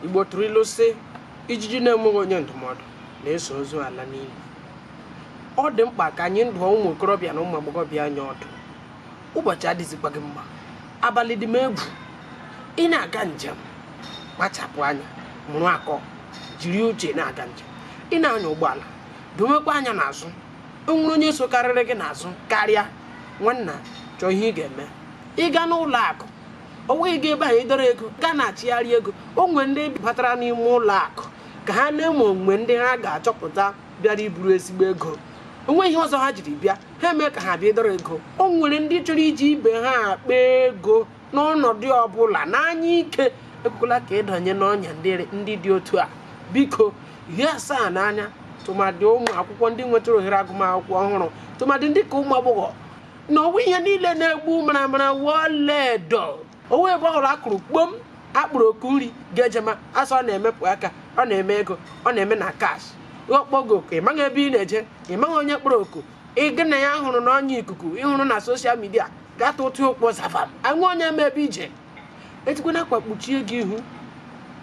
igbo tụrụ ilu sị ijiji na-enweghị onye ndụmọdụ na-eso ozu ala n'ili ọ dị mkpa ka anyị ndụọ ụmụ okorobịa na ụmụ agbọghọbịa anyị ọdụ ụbọchị adịzikwaghị mma abalị dị m egwu ị na-aga njem kpachapụ anya mụrụ akọ jiri uche na-aga njem ị na-anya ụgbọala dowekwa anya n'azụ o nwere onye sokarịrị gị n'azụ karịa nwanna chọọ ihe ị ga-eme ị gaa n'ụlọ akụ ọ wụghị ebe ahụ ị dọrọ ego gaa na-achịgharị ego o nwere ndị batara n'ime ụlọ akụ ka ha nee ma o nwere ndị ha ga-achọpụta bịara iburu ezigbo ego o nweghị ihe ọzọ ha jiri bịa ha emee ka ha bịa ịdọrọ ego o nwere ndị chọrọ iji ibe ha akpa ego n'ọnọdụ ọbụla n'anya ike ekwekwala ka ị danye n'ọnya ndị dị otu a biko hie asaa n'anya tụmadị ụmụ akwụkwọ ndị nwetara ohere agụmakwụkwọ ọhụrụ tụmadị ndị ka ụmụ agbọghọ na ọ wụghị ihe niile na-egbu maramara wụ ọla edo ọ wụghị ebe ọbụla a kụrụ kpom a kpọrọ oku nri ị ga-ejema a sị ọ na-emepụ aka ọ na-eme ego ọ na-eme na cash ọ kpọọ gị oku ị maghị ebe ị na-eje ị maghị onye kpọrọ oku gị na ya hụrụ n'ọnya ikuku ị hụrụ na social media gata ụtụ ụkpọ zavam enweghị onye ma ebe i je e tikwana akwa kpuchie gị ihu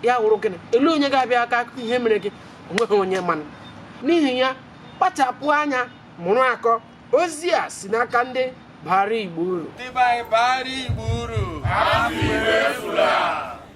ya wụrụ gịnị elee onye ga-abịa aka akụkọ ihe mere gị o nweghị onye manụ n'ihi ya kpachapụ anya mụrụ akọ ozi a si n'aka ndị bara igbo uru ndị be anyị bara igbo uru